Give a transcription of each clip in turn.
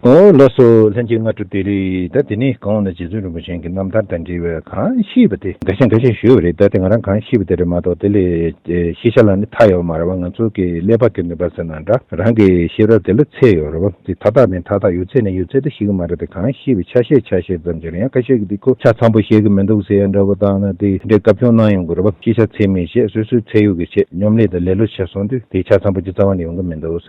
ཨོ་ལོ་སོ་ལྷན་གཅིག་སྔ་དྲོ་དེ་རེད་ད་དེ་ནི་གང་འོག་ན་རྗེ་བཙུན་རིན་པོ་ཆེན་གྱི་རྣམ་ཐར་དང་འབྲེལ་བའི་གང་ཤེས་པ་དེ་འགའ་ཤས་འགའ་ཤས་ཞུས་པ་རེད་ད་དེ་ང་རང་གང་ཤེས་པ་དེ་རེད་མ་གཏོགས་དེ་ལས་ཤེས་བྱ་ལ་ནི་མཐའ་ཡོད་མ་རེད་བ་ང་ཚོ་གི་ཀླད་པ་གི་ནུས་པ་ཟེར་ན་འདྲ་རང་གི་ཤེས་རབ་དེ་ལ་ཚད་ཡོད་རེད་བ་དེ་མཐའ་དག་ནི་མཐའ་དག་ཡོད་ཚད་ནི་ཡོད་ཚད་དུ་ཤེས་ཀྱི་མ་རེད་དེ་གང་ཤེས་པའི་ཆ་ཤས་ཆ་ཤས་ཙམ་ཞིག་རེད་ཡང་ཁ་ཤས་ཀྱི་དེ་ཁོ་ཆ་ཚང་པོ་ཤེས་ཀྱི་མི་འདུག་ཟེར་ཡ་འདྲ་བོ་བཏང་ན་དེ་འདྲའི་དགའ་སྐྱོ་སྣང་ཡོང་དགོས་རེད་བ་ཤེས་བྱ་ཚད་མེད་བཤད་སོ་སོའི་ཚད་ཡོད་ཀྱི་ཆེད་སྙོམ་ལས་དང་ལེ་ལོ་བྱས་སོང་དུས་དེ་ཆ་ཚང་པོ་ཅི་ཙམ་བ་ནི་ཡོང་གི་མི་འདུག།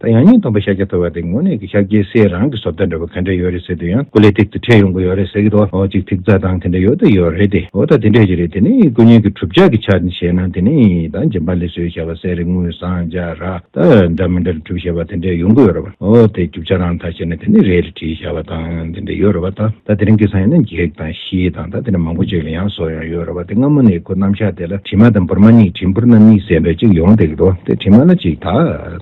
ད་ཡང་སྙིང་སྟོང་པའི་ཤཱཀྱ་ཐུབ་པ་དེ་དངོས་གནས་ཀྱི་ཤཱཀྱའི་སྲས་རང་གི་ཟོབ་ལྟ་འདྲ་བོ་ག་འདྲ་ཡོད་རེད་ཟེར་དུས་ཡང་སྐུ་ལས་ཐིག་ཏུ་འཕྲད་ཡོང་གི་ཡོད་རེད་ཟེར་གི་འདུག་ཨོ་ཅིག་ཐིག་རྩ་དང་དེ་འདྲ་ཡོད་དུ་ཡོད་རེད་དེ་འོ་ད་དེ་འདྲས་ཅི་རེད་དེ་ནི་སྐུ་བརྙན་གྱི་གྲུབ་ཆ་གི་ཆ་ནས་བཤད་ན་དེ་ནི་ད་རྗེན་པ་ལས་སོའི་ཞལ་བ་སེ་རེ་དངུལ་སྲང་བརྒྱ་ར་ད་འདྲ་མི་འདྲར་གྲུབ་ཞེས་པ་དེ་འདྲས་ཡོང་གི་ཡོད་རེད་བ་འོ་དེ་རྒྱུ་ཆ་རང་ད་བཤད་ན་དེ་ནི་རེད་རེད་བྲིས་ཞལ་བ་དང་དེ་འདྲས་ཡོད་རེད་བ་ད་ད་དེ་རིང་གི་སང་ཡོད་ན་འགྱིག་དང་ཤིས་དང་ད་དེ་འདྲ་མང་པོ་ཅིག་ལ་ཡང་སོ་ཡང་ཡོད་རེད་བ་དེ་སྔ་མོ་ནས་ཁོ་རྣམ་ཤཱཀྱ་དེ་ལ་དྲི་མ་དང་འབུར་མ་གཉིས་བྲིས་འབུར་རྣམ་གཉིས་ཟེར་འདྲ་ཅིག་ཡོང་སྡད་ཀྱི་འདུག་དེ་དྲི་མ་ལ་ཅིག་ད་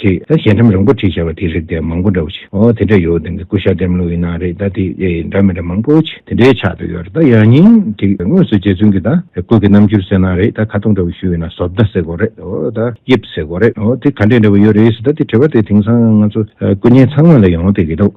ཅེས་ད་ཞལ་འཕྲམ་རིང་པོ་བྲིས་བྱས་པ་དེ་རེད་དེ་མང་པོ་འདྲ་བོ་ཆེ་འོ་དེ་འདྲ་ཡོད་དེ་སྐུ་ཞབས་ལྡེམ་ལོ་ཡིན་ན་རེད་ད་དེ་ཨེ་ཡིན་འདྲ་མི་འདྲ་མང་པོ་ཆེ་དེ་འདྲའི་ཆགས་འདུག་ཡོད་རེད་ད་ཡང་སྙིང་ཅིག་དངོས་སུ་རྗེ་བཙུན་གྱི་ད་སྐུ་གི་རྣམ་འགྱུར་གསན་ན་རེད་ད་ཁ་སྟོང་འདྲ་བོ་ཞུས་ཡོད་ན་ཟོབ་ད་ཟེར་དགོས་རེད་འོ་ད་དབྱིབས་ཟེར་དགོས་རེད་འོ་དེ་ག་འདྲས་འདྲ་བོ་ཡོད་རེད་ཟེར་ད་དེ་དྲི་བ་དེ་དེང་སང་ང་ཚོ་སྐུ་བརྙན་ཚང་མ་ལ་ཡོང་དེ་གི་འདུག།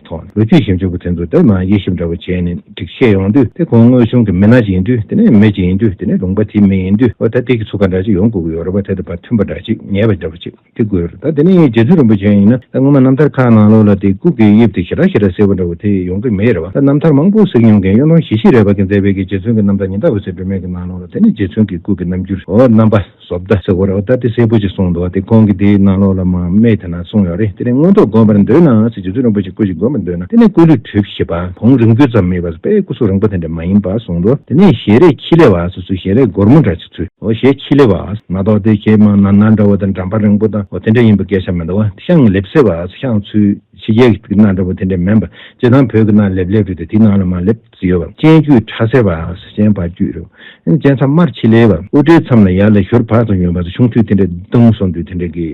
ཐོག་ལོ་རྒྱུས་ཞིབ་འཇུག་པ་དེ་ཚོ་དེ་ལ་དབྱེ་ཞིབ་འདྲ་པོ་བྱས་ནས་སྒྲིག་ཆས་ཡོང་དུས་དེ་གོང་དངོས་བྱུང་གི་མི་སྣ་ཅིག་ཡིན་དུས་དེ་ནས་མི་ཅིག་ཡིན་དུས་དེ་ནས་ལུང་པ་དེའི་མི་ཡིན་དུས་འོ་ད་དེ་གི་ཚུགས་ཀ་འདྲ་ཅིག་ཡོང་དགོས་ཀྱི་ཡོད་རེད་བ་དེ་དང་བ་མཐུན་པ་འདྲ་ཅིག་ཉེས་པ་འདྲ་པོ་ཅིག་དེ་དགོས་རེད་ད་དེ་ནས་རྗེ་བཙུན་རིན་པོ་ཆེ་ཡིན་ན་ད་སྔོན་མ་རྣམ་ཐར་ཁག་ནང་ལོགས་ལ་དེ་ཀུན་གྱི་དབྱིབས་དེ་ཞེ་དྲག་ཞེ་དྲག་ཟེར་བ་འདྲ་བོ་དེ་ཡོང་གི་མེད་རེད་བ་ད་རྣམ་ཐར་མང་པོ་གཟིགས་མྱོང་མཁན་གཡོན་ཐོང་བཞི་ཤེས་རེད་བ་གིན་ཛའི་བེ་གིས་རྗེ་བཙུན་གྱི་རྣམ་ཐར་ཉི་ཟླ་འོད་ཟེར་སྒྲོན་མེ་གི་ནང་ལོགས་ལ་དེ་ནས་རྗེ་བཙུན་གྱི་སྐུ་གི་རྣམ་འགྱུར་འོ་རྣམ་པ། ཟོབ་ལྟ་ཟེར་བར་ཨོ་ད་ལྟའི་སྲས་པོ་ཅིག་སོང་འདུག་དེ་ཁོང་གིས་དེའི་གནང་ལོག་ལ་མ་སྨྲས་དེ་ན་སོང་ཡོད་རེད་དེ་ནས་མངོན་རྟོགས་དགོན་པར་འདོད་ནའང་སྲིད་རྗེ་བཙུན་རིན་པོ་ཆེ་སྐུ་ཞིག་དགོན་པར་འདོད་ན་དེ་ནས་སྐུ་ལུས་གྲོལ་གྱི་ཤེས་པ་བོང་རིམ་ཀུན་ཙམ་མེད་པར་དཔལ་སྐུ་གསུང་རིང་པོ་དེ་འདྲ་མ་ཡིན་པར་གསུངས་འདུག་དེ་ནས་ཞལ་རས་ཁྱི་ལེ་བ་སོ་སོའི་ཞལ་རས་སྒོར་མོ་འདྲ་ཆེ་ཚུལ། འོ་ཞལ་ཁྱི་ལེ་བ། མ་གཏོགས་དེ་ཁྱེད་མ་ན་ན་འདྲ་བོ་དང་འགྲམ་པ་རིང་པོ་དང་འོ་དེ་འདྲ་ཡིན་པའི་སྐད་ཆ་མི་འདུག་བ། ཤངས་ལེབ་ཟེར་བ་སོ་ཤངས་ཚུལ། ཕྱི་རྒྱལ་གྱི་ན་འདྲ་བོ་དེ་འདྲ་མིན་པར་སྤྱིར་བཏང་བོད་ཀྱི་ན་ལེབ་ལེབ་རེད་དེ་དེའི་ནང་ལ་མ་ལེབ། ཟི་ཡོ་བ་སྤྱན་དཀྱུས་ཁྲ་སེར་བ་ཨ་སེ་སྤྱན་བག་དཀྱུས་རོ་སྤྱན་མཚམས་དམར་ཁྱི་ལེ་བ་དབུ་སྐྲའི་མཚམས་ལ་ཡར་ལ་ཞོར་བག་དང་ཡོན་བག་དང་ཆུང་དུས་དེ་འདྲའི་གདུང་སོང་དུས་དེ་འདྲའི་གི།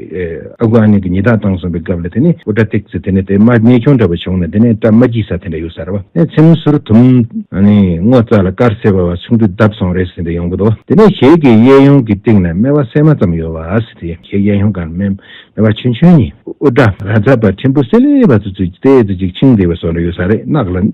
ཨ་ཁུ་ཨ་ནེ་གི་ཉི་ཟླ་བཏང་སོང་བའི་སྐབས་ལ་དེ་ནི་དབུ་སྐྲ་བཏེགས་ཚེ་དེ་ནི་དེ་དམར་གནས་ཆུང་འདྲ་བ་བྱུང་ན་དེ་ནི་སྐྲ་མ་འགྱིག་ས་དེ་འདྲ་ཡོད་ས་རེད་བ། མཚེམ་ཟུར་དུམ། སྔོ་རྩྭ་ལ་དཀར་སེར་བ་བ་ཆུང་དུས་བརྡབས་སོང་རེད་ཟེར་འདྲ་ཡོང་གི་འདུག་དེ་ནས་ཞལ་གྱི་གཡས་གཡོན་གྱི་སྟེང་ན་སྨེ་བ་སྲན་མ་ཙམ་ཡོད་བ་ཨ་སེ་དེ་ཞལ་གཡས་གཡོན་གང་སྨེ་བ་ཆུན་ཆུན་གཉིས། དབུ་སྐྲ་ར་རྫ་བ་ཕྲན་བུ་སེ་ལེ་བ་ཚུ་ཚུད་ཀྱི་ལྟས་ཚུལ་གཅིག་འཆིང་བདེ་བ་སོགས་འདྲ་ཡོད་ས་རེད་གནག་ལ།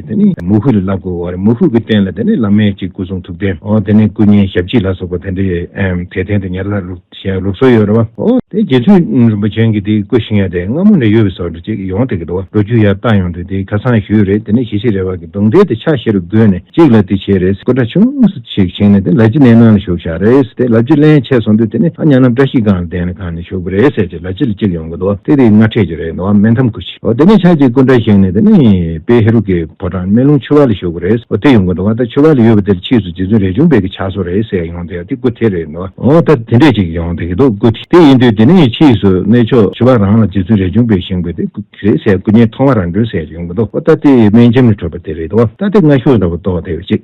དེ་ནས་མུ་བྷུད་ལ་བསླབ་དགོས་བ་རེད་མུ་བྷུད་ཀྱི་རྟེན་ལ་དེ་ནས་བླ་མེད་ཀྱི་སྐུ་གསུང་ཐུགས་རྟེན་འོ་དེ་ནས་སྐུ་བརྙན་ཞབས་ཕྱི་ལ་སོགས་པ་དེ་འདྲའི་དེ་རྟེན་དུ་ཉར་ལ་ཞེས་ལུགས་སྲོལ་ཡོད་རེད་བ། འོ་དེ་རྗེ་བཙུན་རིན་པོ་ཆེན་གྱིས་དེ་སྐུ་བཞེངས་ཡ་དེ་སྔ་མོ་ནས་ཡོད་བས་སོ་འདྲི་ཅིག་ཡོང་དེ་གི་འགྲོ་རྒྱུ་ཡ་ལྟ་ཡོང་དུས་དེ་ཁ་སང་ཞུས་རེད་དེ་ནས་ཞེ་ཞིག་རེད་བ་གི་གདུང་རྟེན་དེ་ཕྱག་བཞི་རུ་བགོས་ནས་གཅིག་ལ་དེ་བྱས་རེད་སྐུ་འདྲ་ཆུང་ངུ་ཞིག་བཞེངས་ནས་དེ་ལ་ཅི་གནས་ནང་ལ་ཞུགས་བཞག་རེད་དེ་ལ་ཅི་གླན་ཆད་སོང་དུས་དེ་ནས་ཨ་ཉག་ནམ་བཀྲ་ཤིས་སྒང་ལ་གདན་ལ་གང་ནས་ཞུགས་པ་རེད་ཟེར་ཅིག་ལ་ཅི་ལ་གཅིག་ཡོང་གི་འདུག་དེ་དེ་སྔ་འཕྲད་རྒྱུ་རེད་འདུག་མེད་དམ་ཀུ། འོ་དེ་ནས་ཆ་གཅིག་སྐུ་འདྲ་བཞེངས་ནས་དེ་ནས་དཔལ་ཧེ་རུ་ཀའི་ཕོ་བྲང་སྨན་ལུང་ཆོས་བར་ལ་ཞོག་གི་རེད། འོ་དེ་ཡོང་གི་འདུག་ཨ་ད་ཆོས་བར་ལ་ཡོད་པ་དེར་ཕྱིས་སུ་རྗེ་བཙུན་རས་ཆུང་དཔལ་གྱི་ཕྱག་སོར་རེད་ཟེར་ཡ་ཡོང་དེ་ཡ་དེ་སྐུ་དེ་རེད་འདུག་ཨ། འོ་ད་དེ་འདྲས་ཅིག་ཡོང་དེ་གི་འདུག་སྐུ་དེ་དེ་ཡིན་དུས་དེ་ནས་ཕྱིས་སུ་གནས་ཆོས་ཆོས་བར་རང་ལ་རྗེ་བཙུན་རས་ཆུང་དཔལ་བཞེངས་པའི་དེ་སྐུ་དེ་རེད་ཟེར་སྐུ་བརྙན་མཐོང་བ་རང་དྲུང་ཟེར་ཡོང་གི་འདུག་ཨོ་ད་དེ་སྨན་ཁྱིམ་ལ་འཕྲོད་པ་དེ་རེད་འདུག་ཨ་ད་དེ་སྔ་གཞུག་ཟླ་བ་ཏོག་དེ་བའི་རྗེས།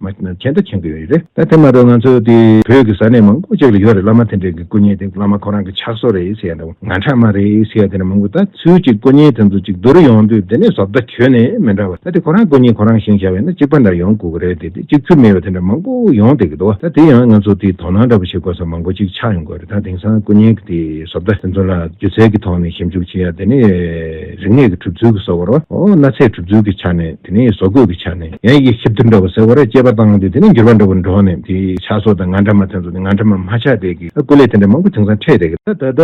མ་གཞི་ནང་ཆེན་ད་མཁྱེན་གི་ཡོད་རེད་ད་དེ་མ་ཏོག་ང་ཚོ་དེ་བོད་ཀྱི་ས་གནས་མང་པོ་ཅིག་ལ་ཡོད་རེད་བླ་མ་དེ་འདྲས་ཀྱི་སྐུ་བརྙན་དེ་བླ་མ་ཁོ་རང་གི་ཕྱག་སོར་རེད་ཟེར་ཡ་འདྲ་བོ་ང་འཕྲག་མ་རེད་ཟེར་ཡ་དེ་འདྲ་མང་པོ་ད་ཚུལ་གྱི་སྐུ་བརྙན་དེ་ཚོ་ཅིག་བསྡུ་རུ་ཡོང་དུས་དེ་ནས་བཟོ་བདག་ཁྱོན་ནས་མི་འདྲ་བ་ད་དེ་ཁོ་རང་སྐུ་བརྙན་ཁོ་རང་བཞེངས་བྱ་བས་ན་གཅིག་པ་འདྲ་ཡོང་དགོས་གི་རེད་དེ་དེ་གཅིག་ཚུལ་མེད་པ་དེ་འདྲ་མང་པོ་ཡོང་སྡད་གི་འདུག་ད་དེ་ཡང་ང་ཚོ་དེའི་དོ་སྣང་འདྲ་པོ་བྱེད་དགོས་ས་མང་པོ་ཅིག་ཆགས་ཡོང་དགོས་རེད་ད་དེང་སང་སྐུ་བརྙན་གྱི་དེ་བཟོ་བདག་དེ་ཚོ་ལ་སྒྱུ་རྩལ་གྱི་ཐོག་ནས་ཞིབ་འཇུག་བྱེད་ཡ་དེ་ནས་རིག་གནས་ཀྱི་གྲུབ་ཚུལ་གྱི་སོ་བར་བ་འོ་ན་ཚད་གྲུབ་ཚུལ་གྱི་ཆ་ནས། དེ་ནས་བཟོ་བཀོད་ཀྱི་ཆ་ནས་ཡང་ཡི་གེ་ཁྱབ་བསྡུར་འདྲ་བ་ཟེར་བ་རེ་དཔྱད་པ་བཏང་སྟེ་དེ་ནས་འགྱུར་བ་འདྲ་བོ་འགྲོ་ནས་དེ་ཆགས་སོགས་དང་ང་འདྲ་མ་ཐོན་སོགས་དེ་ང་འདྲ་མ་མ་ཆགས་བསྡད་ཀྱི་སྐུ་ལས་དེ་འདྲ་མང་པོ་དེང་སང་འཕྲད་བསྡད་ཀྱི། ད་ལྟ་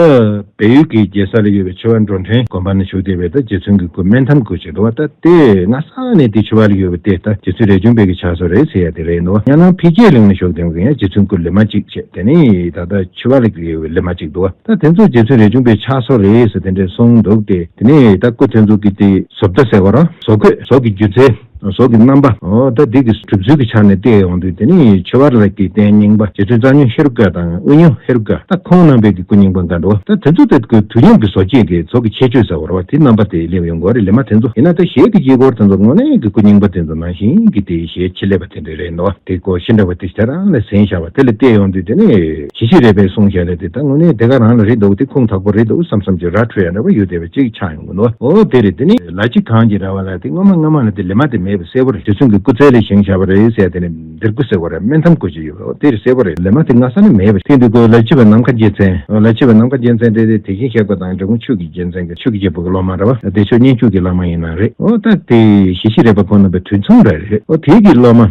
བལ་ཡུལ་གྱི་རྒྱལ་ས་ལ་ཡོད་པའི་ཆོས་བ་འགྲོ་འཕྲེང་དགོན་པ་ན་བཞུགས་བསྡད་པའི་ད་རྗེ་བཙུན་གྱི་སྐུ་སྨན་ཐམ་དགོད་བྱེད་འགྲོ་བ་ད་ལྟའི་སྔ་ས་ནས་དེ་ཆོས་བ་ལ་ཡོད་པ་དེ་ད་རྗེ་བཙུན་རས་ཆུང་དཔལ་གྱི་ཕྱག་སོར་རེད་ཟེར་ཡ་དེ་རེད་འདུག་ཡང་ན་འཕེལ་རྒྱས་གླིང་ན་བཞུགས་བསྡད་མཁན་ཡང་རྗེ་བཙུན་སྐུ་ལི་མ་གཅིག་བྱས་དེ་ནས་ད་ལྟ་ཆོས་བ་ལ་ཡོད་པའི་ལི་མ་གཅིག་འདུག་ད་དེ་ཚོ་རྗེ་བཙུན་རས་ཆུང་དཔལ་ཕྱག་སོར་རེད་ཟེར་དེ་འདྲས་གསུངས་འདུག་སྟེ་དེ་ནས་ད་སྐུ་དེ་ཚོ་གི་དེ་ཟོབ་ད་ཟེར་བ་རང། ཟོག་གོས་ཟོག་གི་སྒྱུ་རྩལ། ཟོག་གི་རྣམ་པ། ལྟ་སྡིག་གི་གྲུབ་ཚུལ་གྱི་ཆ་ནས་བལྟས་ཡོང་དུས་དེ་ནི་ཆོས་བར་ལ་གྱི་རྟེན་རྙིང་པ་རྗེ་བཙུན་རྩ་ཉོན་ཧེ་རུ་ཀ་དང་དབུས་ཉོན་ཧེ་རུ་ཀ་ད་ཁོང་རྣམ་པས་ཀྱི་སྐུ་རྙིང་པ་འགའ་འགྲོ་ད་དེ་ཚོ་དེ་ཀོས་དུས་མཉམ་གྱི་ཟོག་སྐྱེས་ཀྱི་ཚོགས་ཀྱི་ཁྱད་ཆོས་ཟེར་བར་བ་དེ་རྣམ་པ་དེ་སླེབས་ཡོང་དགོས་རེད་ལེ་མ་དེ་ཚོ་ཡིན་ན་ད་ཞལ་གྱི་དཀྱིལ་འཁོར་དེ་ཚོ་དངོས་གནས་ཀྱི་སྐུ་རྙིང་པ་དེ་ཚོ་ནང་བཞིན་གྱི་དེ་ཞལ་ཕྱི་ལེབ་པ་དེ་འདྲ་རེད་འདུག་དེ་ཀོ་ཤི་འདྲ་བ་དེ་ཞལ་རང་ལ་ཟིན་བཞག་པ་དེ་ལ་བལྟས་ཡོང་དུས་དེ་ནི། ཞི་ཞི་རས་པས་གསུངས་ཞལ་ལེ་དེ་ད་དངོས་གནས་དེ་ག་རང་ལ་རེད་འདུག་དེ་ཁུངས་དག་པོ་རེད་འདུག་བསམ་བསམ་གྱི་ར་འཕྲོད་ཡ་འདྲ་བ་ཡོད་བསྡད་པ་ཅིག་ཆགས་ཡོང། ནོ། དེ་རེད་དེ་ནི་ལ་གཅིག་གངས་ཀྱི་ར་བ་ལ་དེ་སྔོན་མ་སྔ་མ་ལ་དེ་ལེ་མ་དེ་མེད་པ་གསལ་བོ་རེད་དེ་ཚོན་གྱི་སྐུ་ཚལ་ལས་བཞེངས་བཞག་པ་རེད་ཟེར་དེ་ནི་འདིར་སྐུ་ཟེར་བ་རེད་སྨན་འཐམ་སྐུ་ཅིག་ཡོད་པ་དེ་རེད་གསལ་བོ་རེད་ལེ་མ་དེ་སྔ་ས་ན་མེད་པ་ཞིག་རེད་དེ་ལ་ཆེ་བའི་ནམ་མཁའ་རྒྱལ་མཚན་ལ་ཆེ་བའི་ནམ་མཁའ་རྒྱལ་མཚན་རེད་དེ་དེ་བཞིན་གཤེགས་པ་དང་འབྲི་གུང་ཆོས་ཀྱི་རྒྱལ་མཚན་གྱི་ཆོས་ཀྱི་རྒྱལ་པོ་གྱི་སློབ་མ་ར་བ་དེ་ཆོས་མཉན་ཆོས་ཀྱི་བླ་མ་ཡིན་ན་རེད་ད་དེ་ཞེ་བཞི་རེད་པ་ཁོ་ན་པའི་དུས་མཚུངས་ར་རེད་དེ་གྱི་སློབ་མ།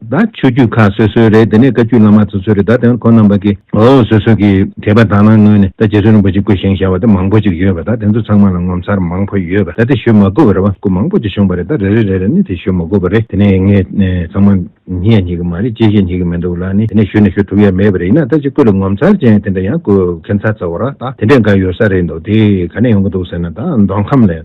ད་ཆོས་རྒྱུད་ཁག་སོ་སོའི་རེད་དེ་ནས་བཀའ་རྒྱུད་བླ་མ་སོ་སོའི་རེད་ད་དེ་ཁོ་རྣམས་པ་གིས་འོ་སོ་སོ་གི་དད་པ་དང་ལ་ངོས་ནས་ད་རྗེ་བཙུན་རིན་པོ་ཆེ་སྐུ་བཞེངས་བཞག་པ་དེ་མང་པོ་ཅིག་ཡོད་པ་ད་དེ་ཚོ་ཚང་མ་ལ་ངོ་མཚར་མང་པོ་ཡོད་པ་ད་དེ་ཞུ་མ་དགོས་པ་རེད་བ་སྐུ་མང་པོ་ཅིག་བཞུགས་པ་རེད་ད་རེ་རེ་རེ་རེ་ནས་དེ་ཞུ་མ་དགོས་པ་རེད་དེ་ནས་ངས་ཚང་མ་ཉན་ཡ་ཉན་གི་མ་རེད་ཅེས་བཤད་ཉན་གི་མི་འདུག་ལ་ནི་དེ་ནས་ཞུ་ནི་ཞུ་ཐུབ་ཡ་མེད་པ་རེད་ཡིན་ན་ད་ཅིག་སྐུ་ལ་ངོ་མཚར་ཅན་དེ་འདྲ་ཡང་སྐུ་གན་ཚ་ཚ་བོ་ར་ད་དེ་འདྲས་འགའ་ཡོད་ས་རེད་འདུག་དེ་ག་ནས་ཡོང་གི་འདུག་ཟེར་ན་ད་མདོ་ཁམས་ལས།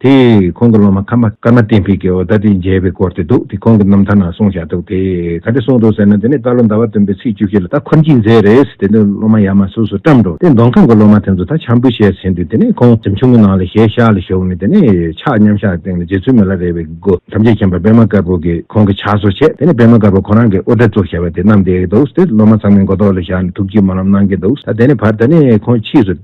དེས་ཁོང་གི་སློབ་མ་ཁམས་པ་ཀརྨ་བསྟན་འཕེལ་གྱི་འོ་ད་དེ་མཇལ་བའི་སྐོར་དེ་འདུག་དེ་ཁོང་གི་རྣམ་ཐར་ནང་གསུངས་བཞག་འདུག་དེས་ག་དེ་གསུངས་འདུག་ཟེར་ན་དེ་ནས་ད་ལོ་ཟླ་བ་བདུན་པའི་ཚེས་བཅུ་བཞི་ལ་ད་འཁོར་འགྱིག་མཛད་རེས་དེ་དུས་སློབ་མ་ཡར་མར་སོ་སོར་བཀྲམས་འགྲོ་དེ་མདོ་ཁམས་ཀྱི་སློབ་མ་དེ་ཚོ་ད་བྱམས་པོ་བྱས་ཟིན་ཏེ་དེ་ནས་ཁོང་གཟིམ་ཆུང་གི་ནང་ལ་ཞལ་ཤར་ལ་བཞུགས་ནས་དེ་ནས་ཕྱག་མཉམ་ཞག་སྟེང་ལ་རྗེ་བཙུན་མི་ལ་རས་པའི་སྒོ་ཐམས་ཅད་མཁྱེན་པ་པདྨ་དཀར་པོ་གིས་ཁོང་གི་ཕྱག་སོར་བྱས་དེ་ནས་པདྨ་དཀར་པོ་ཁོང་རང་གིས་དབུ་སྐྲ་བཙུགས་བྱས་པ་དེ་བསྣམས་བསྡད་འདུག་དེ་སློབ་མ་ཚང་མས་མགོ་ཐོག་ལ་བཞག་ནས་ཐུགས་ཀྱིས་སྨོན་ལམ་གནང་གིན་འདུག་ད་དེ་ནས་བར་ད་ནས་ཁོང་ཕྱིས་སུ།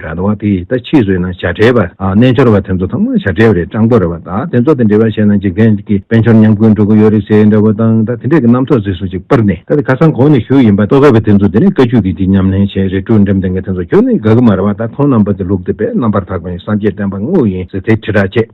ར་ལ་བ་དེ་ཡིས་ད་ཕྱིས་ཟོས་ན་བྱ་བྲལ་བ། རྣལ་འབྱོར་བ་དེ་ཚོ་ཚང་མ་བྱ་བྲལ་བ་རེད་སྤྲང་པོ་རེད་བ་ད་དེ་ཚོ་དང་འབྲེལ་བ་བྱས་ན་འཇིག་རྟེན་གྱི་དཔལ་འབྱོར་ཉམས་རྒུད་འགྲོ་གི་ཡོད་རེད་ཟེར་འདྲ་བོ་དང་ད་དེ་འདྲས་ཀྱི་རྣམ་ཐོག་ཟིག་སུ་ཅིག་སྤར་ནས་ད་དེ་ཁ་སང་གོང་ནས་ཞུ་ཡི་ཡིན་པ་རྟོགས་དཀའ་བའི་དེ་ཚོ་དེ་ནས་བཀའ་རྒྱུད་ཀྱི་འདི་ཉམས་ལེན་བྱས་རེད་ཀྲུའུ་འགྲེམས་དེ་འགའ་དེ་ཚོ་ཁྱོད་ནི་དགའ་གི་མ་རེད་བ་ད་ཁོང་རྣམ་པ་དེ་ལུགས་དེ་བས་རྣམ་པར་དག་པ་ཡིན་སངས་རྒྱས་བསྟན་པ་དངོས་ཡིན་ཟེར་དེ་ཁྲི་ཕྲག་བཅད།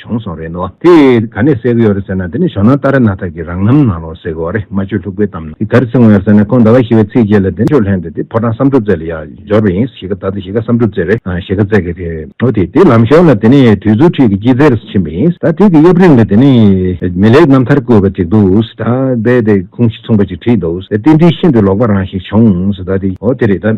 བྱུང་སོང་རེད་འདོད། དེ་ག་ནས་སེལ་གི་ཡོད་རེད་ཟེར་ན་དེ་ནི་ཞོ་ནང་རྟ་ར་སྣ་ཐག་གི་རང་རྣམ་ནང་ལོག་སེལ་གི་འོ་རེད་སྨྲ་བརྗོད་ལྷུག་པོའི་གཏམ་ནང་གི་ག་རེ་ཚིག་ངོ་ཡོད་ཟེར་ན་ཁོང་ཟླ་བ་བཞི་བའི་ཚེས་བརྒྱད་ལ་བདེ་མཆོག་ལྷན་དེ་དེ་ཕོ་བྲང་བསམ་འགྲུབ་རྩེ་ལ་ཡར་འབྱོར་བ་ཡིན་གཞིས་ཀ་ད་དུ་གཞིས་ཀ་བསམ་འགྲུབ་རྩེ་རེད་གཞིས་ཀ་རྩེ་གི་དེ་འོ་དེ་དེ་ལམ་ཞོར་ལ་དེ་ནི་དུས་ཚོད་ཁྲིད་ཀྱི་སྐྱིད་རྩེ་རུ་ཕྱིན་པ་ཡིན་ད་དེ་གི་གཡབ་རིང་ལ་དེ་ནི་མི་ལེགས་རྣམ་ཐར་བཀོད་པ་ཅིག་འདུག་ད་རྦད་དེ་ཁུངས་གཞི་མཚུངས་པ་ཅིག་བྲིས་འདུག་ད་དེ་འདྲིས་ཤིན་ཏུ་ལོག་པ་རང་ཞིག་བྱུང་ད་དེ་འོ་དེ་རེད་ད།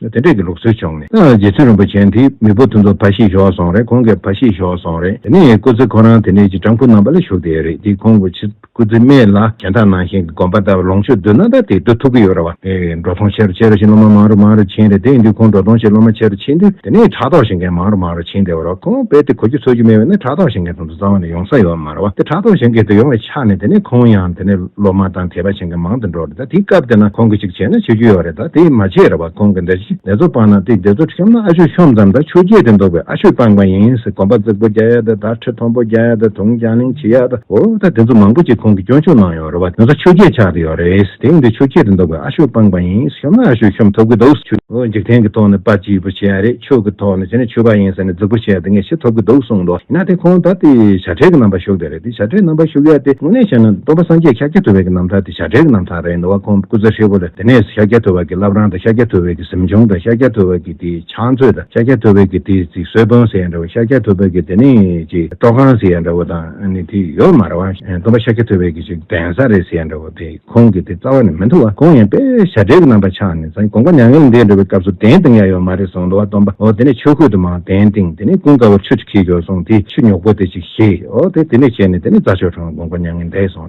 དེ་འདྲས་ཀྱི་ལུགས་སྲོལ་བྱུང་ནས། རྗེ་བཙུན་རིན་པོ་ཆེན་དེ་མི་བུ་ཐུན་ཚོགས་ཕ་ཤི་ཞོག་སོང་རེད་ཁོང་གི་ཕ་ཤི་ཞོག་སོང་རེད་དེ་ནས་སྐུ་ཚེ་ཁོ་རང་དེ་ནས་ཀྱི་སྤྲང་ཕུ་རྣམ་པ་ལ་ཞུགས་དེ་རེད་དེ་ཁོང་གི་ཕྱི་སྐུ་ཚེ་སྨད་ལ་གྱན་ཐག་ནང་བཞིན་གྱི་དགོན་པ་ལྟ་བུ་ལོངས་སྤྱོད་རྡུལ་སྣ་ལྟར་དེ་སྡུད་ཐུབ་ཀྱི་ཡོད་རེད་བ། འགྲོ་སོང་ཆེ་རུ་ཆེ་རུ་ཕྱིན་སློབ་མ་མང་རུ་མང་རུ་ཕྱིན་རེད་དེ་འདུས་ཁོང་འགྲོ་སོང་ཆེ་སློབ་མ་ཆེ་རུ་ཕྱིན་དུས་དེ་ནས་ཕྲག་དོག་བྱེད་མཁན་མང་རུ་མང་རུ་ཕྱིན་དེ་བ་ར་ཁོང་དཔེ་དེ་གོ་རྒྱུ་འཚོལ་རྒྱུ་མེད་བས་ན་ཕྲག་དོག་བྱེད་མཁན་ཐུན་ཚོགས་རྩ་བ་ནས་ཡོང་ས་ཡོད། བར་བ་དེ་གྲགས་སྟོང་བཞེངས་སྐད་དུ་ཡོང་བའི་ཆ་ནས་དེ་ནས་ཁོང་ཡང་དེ་ནས་སློབ་མ་དང་དད་པ་བྱེད་མཁན་མང་དུ་འགྲོ་རེད་ད་དེའི་སྐབས་དེ་ན་ཁོང་གིས་གཅིག་བྱས་ན་ཆོས་རྒྱུད་ཡོག་རེད་ད་དེ་མ་བྱས་ར་བ་ཁོང་གི་འདས་ཕྱི་ནད་ཚོ་སྤངས་ན་དེ་འདས་ཚོ་ཁྲིམས་ན་ཨ་ཆོས་ཤོམ་ཙམ་ད་ཆོས་རྒྱད་དེ་འདོག་པའི་ཨ་ཆོས་སྤངས་པ་ཡིན་ཟེར་གོམ་པ་རྩེག་པོ་རྒྱག་ཡ་ད་ད་ཁྲི་མཐོན་པོ་རྒྱག་ཡ་ད་དུང་རྒྱང་གླིང་བྱེད་ཡ་ད་འོ་ད་དེ་ཚོ་མང་པོ་ཅིག་ཁོང་གིས་སྐྱོན་ཕྱུག་གནང་ཡོང། རོ་བ་དེ་ཚོ་ཆུ་སྐྱེས་ཆགས་ཏེ་ཡོད་རེད། དེང་དུས་ཆུ་སྐྱེས་དུ་འདུག་པའི་ཨ་ཤོ་སྤངས་པ་ཡིན། ཤོམ་ན་ཨ་ཤོ་ཤོམ་ཐུབ་ཀྱི་འདུག་ཆུ། འཇིག་རྟེན་གྱི་ཐོག་ནས་དཔའ་སྐྱིད་པོ་བྱས་རེད་ཆུ་གི་ཐོག་ནས་བྱས་ན་ཆུ་བ་ཡིན་ཟེར་ནས་རྫིག་པོ་བྱས་ཏེ་ངས་ཤི་ཐུབ་ཀྱི་འདུག་གསུངས་འདུག་ཡིན་ན་དེ་ཁོང་ད་དེ་བྱ་བྲལ་གྱི་རྣམ་པར་ཞུགས་བསྡད་རེད་དེ་བྱ་བྲལ་རྣམ་པར་ཞུགས་ཡ་དེ་དངོས་གནས་བཤད་ན་སྟོང་པ་སངས་རྒྱས་ཤཱཀྱ་ཐུབ་བད་ཀྱི་རྣམ་ཐར་དེ་བྱ་བྲལ་གྱི་རྣམ་ཐར་རེད་འདུག་བ་ཁོང་སྐུ་ཚེ་ཧྲིལ་པོ་ལ་དེ་ནས་ཤཱཀྱ་ཐུབ་བད་ཀྱི་བླ་བྲང་དང་ཤཱཀྱ་ཐུབ་བད་ཀྱི་གཟིམ་ཆུང་དང་ཤཱཀྱ་ཐུབ་བད་ཀྱི་དེ་ཕྱག་མཛོད་དང་ཤཱཀྱ་ཐུབ་བད་ཀྱི་དེ་ཚིག་གསོལ་དཔོན་ཟེར་ཡ་འདྲ་བོ་ཤཱཀྱ་ཐུབ་བད་ཀྱི་དེ་ནས་ཀྱི་སྤྲོ་ཁང་ཟེར་ཡ་འདྲ་བོ་དང། ནི་དེ་ཡོད་མ་རེད་བ། སྟོན་པ་ཤཱཀྱ་ཐུབ་པའི་གྱི་ཅིག་གདན་ས་རེད་ཟེར་ཡ་འདྲ་བོ་དེ་ཁོང་གི་དེ་རྩ་བ་ནས་མི་འདུག་བ་གང་ཡིན་པས་ཞབས་འདྲེན་གི་རྣམ་པ་ཆགས་ནས་ས་གོང་པ་མྱ་ངན་ལས་འདས་འགྲོ་བའི་སྐབས་སུ་གདན་བཏིང་ཡ་ཡོད་མ་རེད་གསུངས་འདུག་བ་སྟོན་པ་འོ་དེ་ནས་ཆོས་ཁུལ་དུ་མང་གདན་བཏིང་དེ་ནས་ཀུན་དགའ་བོར་ཆུ་ཅིག་ཁྱེར་རྒྱོག་གསུངས་དེ་ཆུ་ཉོག་པོ་དེ་ཅིག་བཞེས་འོ་དེ་དེ་ནས་བྱས་ནས་དེ་ནས་རྫ་ཆོས་གྲོང་གོང་པ་མྱ་ངན་འདས་སོང།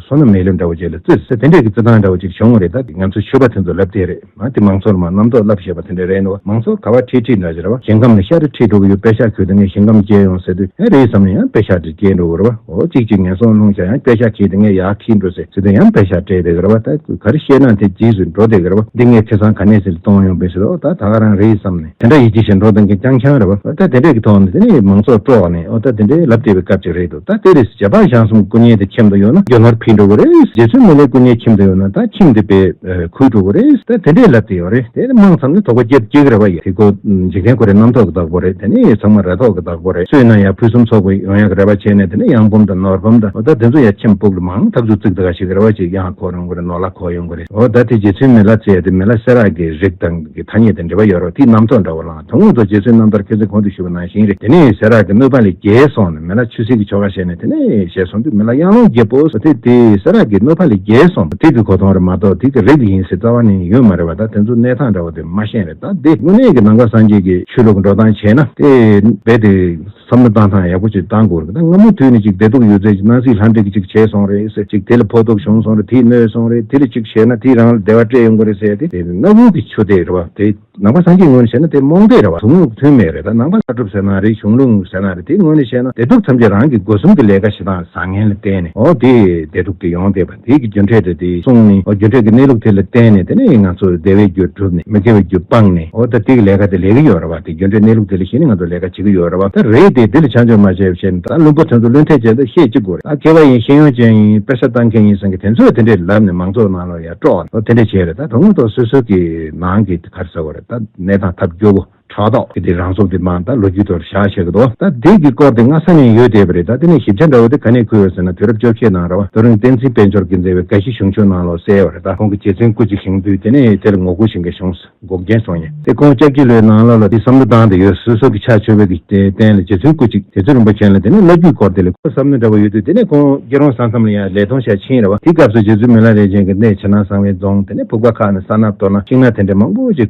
བཟོ་རྣམས་མེད་ལས་འདྲ་བོ་ཅིག་ལ་བརྩི་ཟེར་དེ་འདྲས་ཀྱི་བརྩི་སྟངས་འདྲ་བོ་ཅིག་བྱུང་བ་རེད་ད་ང་ཚོས་ཆོས་པ་དེ་ཚོ་ལབ་དེ་རེད་མ་དེ་མང་ཚོགས་ལ་མ་རྣམ་རྟོག་ལབ་ཞེས་པ་དེ་འདྲ་རེད་འདུག་མང་ཚོགས་ག་བ་ཁྲིད་ཁྲིད་འདྲ་ཞེ་ར་བ་ཞིང་ཁམས་ལ་ཤ་རེ་ཁྲིད་འགྲོ་གི་ཡོད་དཔེ་ཤ་གྱོད་དེ་ངས་ཞིང་ཁམས་བསྐྱལ་ཡོང་ཟེར་དུས་ཡང་རེད་བསམ་ནས་ཡང་དཔེ་ཤ་དེ་བསྐྱལ་འགྲོ་གི་ར་བ་འོ་ཅིག་ཅིག་ངན་སོང་ལྷུང་བྱ་ཡང་དཔེ་ཤ་ཁྱེར་དེ་ངས་ཡག་ཁྲིད་འགྲོ་ཟེར་ཟེར་དུས་ཡང་དཔེ་ཤ་སྤྲད་དེ་གི་ར་བ་ད་ག་རེ་བཤད་ན་དེ་རྗེས་སུ་འགྲོ་དེ་གི་ར་བ་འདི་ངས་ཁེ་སང་ག་ནས་ཟིན་ལྟོང་ཡོང་དཔེ་ཟེར་ཨོ་ད་ད་ག་རང་རེད་བསམ་ནས། དེ་འདྲ་ཡིད་ཆེས་བཞིན་འགྲོ་འདང་གིན་རྐྱང་རྐྱང་རེད་བ། ད་དེ་འདྲས་ཀྱི་ཐོག་ནས་དེ་ནི་མང་ཚོགས་དཀྲོགས་ནས་ཨོ་ད་དེ་འདྲས་ལབ་བསྡད་པའི་སྐབས་ཅིག་རེད་འདུག་ད་དེ་རེས་རྗེས་དཔག་ཞང་གསུམ་སྐུ་བརྙན་དེ་ཁྱིམ་དུ་ཡོང་ན་རྒྱ་གར་ཕིས་འགྲོ་གི་རེད་རྗེ་བཙུན་མི་ལའི་སྐུ་བརྙན་ཁྱིམ་དུ་ཡོང་ན་ད་ཁྱིམ་དེ་པས་ཁུར་འགྲོ་གི་རེད་ད་དེ་འདྲས་ལབ་བསྡད་ཡོད་རེད་དེ་ནི་མང་ཙམ་ནས་དོགས་པ་སྐྱེ་སྐྱེ་གི་རེད་བ་ཡ། དེ་ཀོ་འཇིག་རྟེན་ཁོ་རེ་རྣམ་ཐོག་གི་བདག་པོ་རེད་དེ་ནི་ཚང་མ་ར་ཐོག་གི་བདག་པོ་རེད་སུས་ན་ཡ་ཕུན་སུམ་ཚོགས་པའི་ཡོང་ཡ་གི་རེད་བ་བྱས་ནས་དེ་ནི་ཡང་འབུམ་དང་ནོར་འབུམ་དང་ཨོ་ད་དེ་ཚོ་ཡ་ཁྱིམ་སྤུག་ལ་མང་ཐག་ཆུ་བཙིག་ད་ག་ཞིག་གི་རེད་བ་ཅིག་ཡང་ཁོག་ཡོང་གི་རེད་ནོར་ལ་ཁོག་ཡོང་གི་རེད། འོ་ད་དེ་རྗེ་བཙུན་མི་ལ་ཙེ་དེ་མི་ལ་སེ་རག་གི་རིགས་དང་གི་ཐ་སྙད་དེ་འབྲེལ་བ་ཡོད་རོགས་དེའི་རྣམ་རྟོག་འདྲ་བོ་ལངས་ད་སྔོན་ཐོག་རྗེ་བཙུན་རྣམ་ཐར་མཁས་བཙུན་གོང་དུ་ཞུས་པ་ནང་བཞིན་རེད་དེ་ནས་སེ་རག་གི་དམོད་པ་ལས་རྒྱལ་སོང་ནས་མི་ལ་ཆུ་སེར་གི་ཆོ་ག་བཤད་ནས་དེ་ནས་བཞེས་སོང་དུས་མི་ལ་གཡང་ལོང་རྒྱལ་པོ་སོ་དེ་དེ་སེ་རག་གི་དམོད་པ་ལས་རྒྱལ་སོང་ད་དེ་གི་གོ་ཐོང་རེད་མ་གཏོགས་དེ་གི་རིགས་དེ་ཡིན་སའི་རྩ་བ་ནས་ཡོད་མ་རེད་བ་ད་དེ་ཚོ་གནས་སྟངས་འདྲ་བོ་དེ་མ་ཤེས་རེད་ད་དེ་དངོས་གནས་གི་ནང་ཁ་སངས་རྒྱས་གི་ཆོས་ལུགས་འགྲོ་སྟངས་བྱས་ན་དེ་རྦད་དེ། བསམ་བློ་བཏང་ཐང་ཡག་པོ་ཅིག་བཏང་དགོས་རེད་ད་སྔ་མོ་དུས་ནས་ཅིག་བདེ་སྡུག་ཡོད་ཚད་ཅིག་སྣང་སྲིད་ལྷ་འདྲེ་གི་ཅིག་བྱས་སོང་རེད་ཟེར་ཅིག་དེ་ལ་ཕོག་ཐུག་བྱུང་སོང་རེད་དེས་གནོད་སོང་རེད་དེ་ལ་ཅིག་བྱས་ན་དེས་རང་ལ་བདེ་བ་སྤྲད་ཡོང་གི་རེད་ཟེར་ཏེ་དེ་ནི་གནའ་བོའི་གི་ཆོས་དད་རེད་བ་དེ་ནང་པ་སངས་རྒྱས་ངོས་ནས་བྱས་ན་དེ་རྨོངས་དད་རེད་བ་དོན་དངོས་མཐུན་མེད་རེད་ད་ནང་པ་ལྟ་གྲུབ་ཟེར་ན་རེད་གཞུང་ལུགས་ངོས་ཟེར་ན་རེད་དེ་ངོས་ནས་བྱས་ན་བདེ་སྡུག་ཐམས་ཅད་རང་གི་སྒོ་གསུམ་གི་ལས་ཀ་བྱེད་སྟངས་བཟང་ངན་ལ་བརྟེན་ནས་འོ་དེས་བདེ་སྡུག་དེ་ཡོང་བསྡད་པ། རིགས་ཀྱི་རྒྱུ་འབྲས་དེ་དེའི་གསུང་ནི་རྒྱུ་འབྲས་ཀྱི་གནས་ལུགས་དེ་ལ་བརྟེན་ནས་དེ་ནི་ང་ཚོར་བདེ་བའི་རྒྱུ་གྲུབ་ནས་མི་དགེ་བའི་རྒྱུ་སྤངས་ནས་འོ་ད་དེའི་ལས་ཀ་དེ་ལས་ཀྱི་ཡོད་རེད་བ་དེ་རྒྱུ་འབྲས་གནས་ལུགས་དེ་ལས་གཞན་ནི་ང་ཚོར་ལས་ཀ་བྱེད་ཀྱི་ཡོད་རེད་བ་ད་རེད་དེ་དེ་ལ་བྱང་ཆུབ་མ་བྱས་པའི་ཕྱིར་ན་ད་བླུན་པོ་དོན་དུ་བླུན་ཐལ་བྱེད་དུ་ཤེས་ཅི་དགོས་རེད་ད་མཁས་པ་ཡིན་ཤེས་ཡོན་ཅན་ཡིན་དཔེ་ཆ་བལྟ་མཁན་ཡིན་བསམ་གི་དེ་ཚོས་དེ་འདྲས་ལབ་ནས་མང་ཚོགས་ནང་ལ་ཡར་དཀྲོག་ནས་དེ་འདྲས་བྱས་རེད་ད་དོན་དངོས་ཐོག་སོ་སོ་གི་ནང་གི་གར་ཟེར་བ་རེད་ད་གནས་དང་ཐབས་སྐྱོ་བོ། དྲ་ཐོག་གི་དེ་རང་ཚོགས་དེ་མ་ད་ལོ་རྒྱུས་ཐོག་བཞག་བྱས་གི་འདུག་ད་དེ་གི་སྐོར་དེ་སྔ་ས་ནས་ཡོད་བསྡད་པ་རེད་ད་དེ་ནས་ཞིབ་ཆ་འདྲ་བོ་དེ་ག་ནས་ཁུར་ཡོད་ཟེར་ན་དུས་རབས་བཅོ་བརྒྱད་ནང་ར་བ་རྡོ་རིང་བསྟན་འཛིན་དཔལ་འབྱོར་གྱི་མཛད་པའི་དགའ་བཞི་གཞུང་ཕྱོགས་ནང་ལོག་གསལ་བ་རེད་ད་ཁོང་གི་རྗེ་བཙུན་སྐུ་གཅིག་བཞེངས་དུས་དེ་ནས་དེར་ངོ་རྒོལ་བྱེད་མཁན་གཞུང་འགོག་མཁན་སོང་ཡིན་དེ་ཁོང་ཅག་ཕྱི་ལོའི་ནང་ལོ་ལ་དེ་བསམ་བློ་བཏང་དེ་ཡོད་སོ་སོ་གི་ཕྱག་མཆོད་འབུལ་གི་དེ་རྟེན་ལ་རྗེ་བཙུན་སྐུ་གཅིག་དེ་ཚོས་རིན་པོ་ཆེན་ལ་དེ་ནས་བླ་རྒྱུད་སྐོར་དེ་ལས་ཁོ་བསམ་མནོ་འདྲ་བོ་ཡོད་དུས་དེ་ནས་ཁོང་སྐྱིད་རོང་ས་མཚམས་ལ་ཡང་ལས་ཐོང་ཞག་ཕྱིན་ར་བ་དེ་སྐབས་སུ་རྗེ་བཙུན་མི་ལ་རས་ཅན་གི་གནས་བྱེ་ནང་གསང་བའི་རྫོང་དེ་ནས་ཕུག་པ་ཁག་ནས་ས་ནག་སྟོད་ནག་ཤིང་ནག་དེ་འདྲ་མང་པོ་ཅིག་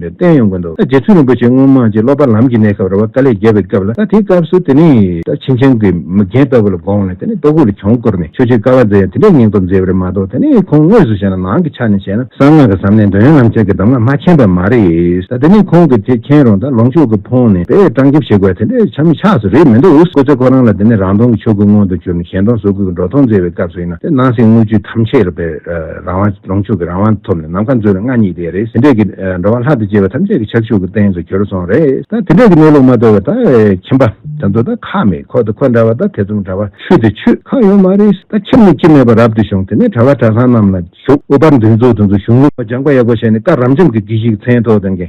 པའི་བསྟན་ཡོང་གི་འདུག་ད་རྗེ་བཙུན་རིན་པོ་ཆེ་སྔོན་མ་རྗེ་སློབ་པ་ལམ་གྱི་གནས་སྐབས་རེ་བ་ཀ་ལས་རྒྱལ་བའི་སྐབས་ལ་ད་དེའི་སྐབས་སུ་དེ་ནི་ད་ཕྱིན་ཆེན་གྱི་མི་རྒན་ལྟ་བུ་ལ་དགོངས་ནས་དེ་ནི་ལྟོ་གོས་ལ་གྱོང་བསྐུར་ནས་ཆོས་སྤྱོད་དཀའ་བ་མཛད་ཡང་དེ་འདྲའི་སྙིང་སྟོབས་མཛད་པ་རེད་མ་གཏོགས་དེ་ནི་ཁོང་དངོས་སུ་བྱས་ན་ནང་གི་ཆ་ནས་བྱས་ན་གསང་སྔགས་ཀྱི་ཟབ་གནད་འདོན་ཡོང་ལམ་ཆེན་གྱི་གདམས་ངག་མ་མཁྱེན་པ་མ་རེད་ད་དེ་ནི་ཁོང་གི་དེ་མཁྱེན་རུང་ད་ལོངས་སྤྱོད་ཀྱི་ཕོངས་ནས་དཔེ་སྤྲང་རྒྱབ་བྱེད་དགོས་པ་དེ་འདྲའི་ཆ་མི་ཆགས་སུ་རེད་མི་འདུག་སྐུ་ཚེ་ཁོ་རང་ལ་དེ་ནི་རང་སྟོང་གི་ཆོས་སྐུ་མངོན་དུ་གྱུར་ནས་གཞན་སྟོང་གཟུགས་སྐུ་གི་འགྲོ་སྟངས་མཛད་པའི་སྐབས་སུ་ཡིན་ན་དེ་སྣང་སྲིད་དངོས་བཅུད་ཐམས་ཅད་ལ་དཔེར་རང་དབང་ལོངས་སྤྱོད་ཀྱི་རང་དབང་ཐོབ་ནས་ནམ་མཁའ་མཛོད་ལ་མངའ་བརྙེས་དེ་རེད་ཟིན་འདྲེས་ཀྱི་འགྲོ་བ་ལྷག་ཏུ་གཅེས་པ་ཐམས་ཅད་ཀྱི་ཕྱག་ཕྱུག་གི་སྟེང་དུ་གྱུར་སོང་རེད་ད་དེ་འདྲས་ཀྱི་གནས་ལུགས་མ་རྟོགས་པའི་ད་ཁྱིམ་པ་དེ་ཚོ་ད་ཁག་མེད་ཁོག་དེ་ཁོག་འདྲ་བ་ད་ཐེ་ཚོམ་འདྲ་བ་ཆུ་དེ་ཆུ་ཁག་ཡོད་མ་རེད་ད་ཁྱིམ་ནི་ཁྱིམ་མེད་པར་རབ་ཏུ་བྱུང་དེ་ནས་གྲྭ་བ་གྲྭ་ཚང་རྣམས་ལ་ཞུགས་དབུ་ཕར་འདུན་ཚུགས་དུ་འདུག་གཞུང་ལུགས་སྦྱངས་པ་ཡག་པོ་བྱས་ནས་སྐར་རམ་འབྱམས་ཀྱི་གྱིས་ཤིག་མཚན་ཐོག་དང།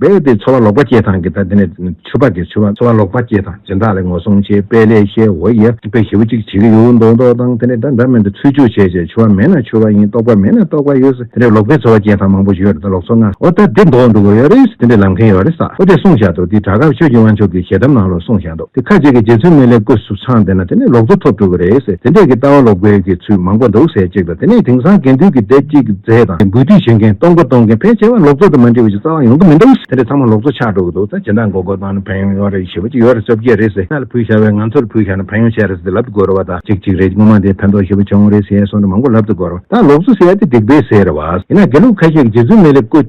རྦད་དེ་འཚོ་བ་ལོག་པ་སྐྱེས་དང་གི་ད་དེ་ནས་ཆུ་ཕག་གི་ཆུ་བ་འཚོ་བ་ལོག་པ་སྐྱེས་དང་སྦྱིན་བདག་ལས་ངོ་སྲུང་བྱེད་དཔེ་ལས་ཤེ་འོ་ཡེ་དཔེ་ཞེ་བོ་གཅིག་བྱེད་ཀྱི་ཡོད་མདོག་མདོག་དང་དེ་ནས་འདྲ་འདྲ་མེད་དུ་ཚུལ་འཇུག་བྱེད་བྱེད་ཆུ་བ་མེད་ན་ཆུ་བ་ཡིན་རྟོག་པ་མེད་ན་རྟོག་པ་ཡོད་དེ་འདྲའི་ལོག་པའི་འཚོ་བ་སྐྱེས་དང་མང་པོ་ཡོད་ད་ལོག་འཚོ་ང་འོ་ད་དེ་མདོག་འདུག་གོ་ཡོད་རེད་དེ་འདྲའི་ལམ་མཁན་ཡོད་རེད་ས་འོ་དེ་གསུངས་བཞག་འདུག་དེ་དྲ་གབ་ཆོས་ཀྱི་དབང་ཕྱུག་གི་ཞལ་གདམས་ནང་ལོ་གསུངས་བཞག་འདུག། དེ་ཁ་ཅིག་གིས་རྗེ་བཙུན་མའི་ལེགས་བཀོད་སུ་ཚང་དེ་ན་དེ་ནས་ལོག་འཚོ་ཐོབ་འགྲོ་གི་རེད་ཟེར་དེ་འདྲས་ཀྱི་ལྟ་བ་ལོག་པའི་གི་ཚུལ་མང་པོ་འདུག་ཟེར་ཅིག་ལ་དེ་ནས་དེང་སང་དགེ་འདུན་གྱི་སྡེ་གཅིག་གི་རྫས་དང་དེ་འབུལ་སྡུད་བྱེད་མཁན་གཏོང་སྒོ་གཏོང་མཁན་ཕལ་ཆེ་བ་ལོག་འཚོ་དང་མ་འདྲིས་པ་ཅིག་རྩ་བ་ཡོང་གི་མི་འདུག་དེ་འདྲས་ཚང་མ་ལོག་འཚོ་ཆགས་འགྲོ་གི་འདུག་ཟེར་ཇི་འདྲ་འགོག་དགོས་གཏོང་ན་ཕན་ཡོང་ཡོང་རེད་ཞེས་པ་ཅིག་ཡོད་རེད་བཅོ་བརྒྱད་རེད་ཟེར་ས་ལ་ཕུལ་བཞག་བས་ང་ཚོར་ཕུལ་བཞག་ན་ཕན་ཡོང་ཆེ་རེད་ཟེར་ཏེ་ལབ་ཏུ་འགོད་རོགས་བ་དང་ཅིག་ཅིག་རེད་སྔོན་མ་དེ་ཕན་ཐོགས་ཞེས་པ་བྱུང་རེད་ཟེར་སོང་དུ་མང་པོ་ལབ་ཏུ་འགོད་རོགས་ད་ལོག་འཚོ་ཟེར་ཡ་དེ་སྡིག་པས་ཟེར་རེད་བ། ཡིན་ན་དགེ་ལུགས་ཁ་ཤས་ཀྱིས་རྗེ་བཙུན་མའི་ལེགས་བཀོད།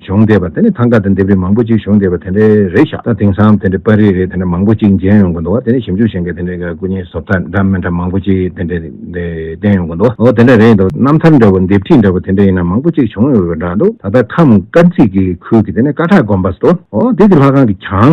གཞོགས་འདེབས་པ་དེ་ནས་ཐང་ག་དང་འདེབས་རིས་མང་པོ་གཅིག་གཞོགས་འདེབས་པ་དེ་འདྲའི་རེ་བཞག་ད་དེང་སང་དེ་འདྲའི་པར་རིས་རེ་དེ་འདྲ་མང་པོ་གཅིག་མཇལ་ཡོང་གི་འདུག་བ་དེ་ནས་ཞིབ་འཇུག་བྱེད་མཁན་དེ་འདྲའི་སྐུ་བརྙན་བཟོ་པ་འདྲ་མི་འདྲ་མང་པོ་གཅིག་དེ་འདྲའི་བསྟན་ཡོང་གི་འདུག་བ་འོ་དེ་འདྲ་རེད་འདུག་རྣམ་ཐར་འདྲ་བོ་འདེབས་ཁྲིས་འདྲ་བོ་དེ་འདྲ་ཡིན་ན་མང་པོ་གཅིག་བྱུང་ཡོད་པ་འདྲ་འདུག་ད་ལྟ་ཁམས་དཀར་མཛེས་ཀྱི་ཁུལ་གྱི་དེ་ནས་ཀ་ཁྲག་དགོན་པ་སོ་ཨོ་དེ་གི་ལྷ་ཁང་གི་གྱང།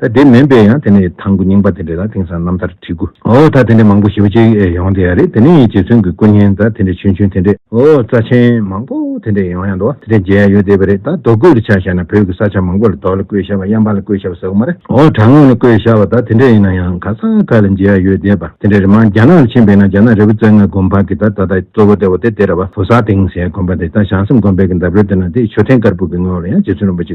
ད་དེ་མིན་པས་ཡང་དེ་ནས་ཐང་གུ་རྙིང་པ་དེ་འདྲས་ལ་དེང་སང་རྣམ་ཐར་བྲིས་གུ། འོ་ད་དེ་འདྲས་མང་པོ་ཞིབ་པོ་ཅིག་ཡོང་དེ་ཡ་རེད་དེ་ནས་ཡིན་རྗེ་བཙུན་གི་སྐུ་བརྙན་ད་དེ་འདྲས་ཆུན་ཆུན་དེ་འདྲས་འོ་རྩ་ཆེན་མང་པོ་དེ་འདྲས་ཡོང་ཡ་འདུག་དེ་འདྲས་མཇལ་ཡ་ཡོད་དེ་བས་རེད་ད་རྡོ་བརྐོས་ལ་ཆ་བཞག་ན་བོད་ཀྱི་ས་ཆ་མང་པོ་ལ་རྡོ་ལ་བརྐོས་ཤ་བ་གཡང་འབངས་ལ་བརྐོས་ཤ་བ་ཟེར་གུ་མ་རེད་འོ་བྲག་ངོས་ལ་བརྐོས་ཤ་བ་ད་དེ་འདྲས་ཡིན་ན་ཡང་ག་ས་ག་ལ་མཇལ་ཡ་ཡོད་དེ་བ་དེ་འདྲས་རེད་མང་རྒྱ་ནག་ལ་ཕྱིན་པས་ན་རྒྱ་ནག་རི་བོ་རྩེ་ལྔ་དགོན་འཕགས་ཀྱི་ད་ད་ད་གཙོ་བོ་སྟེ་བོ་དེ་དེ་ར་བ་བོ་ས་སྟེང་ཟེར་ཡ་དགོན་པ་དེ་ད་བྱང་སེམས་དགོན་པའི་གི་འདབས་རོལ་དེ་ན་དེ་ཆོས་ཐེང་དཀར་པོ་གི་ངོས་ལ་ཡང་རྗེ་བཙུན་རིན་པོ་ཆེ་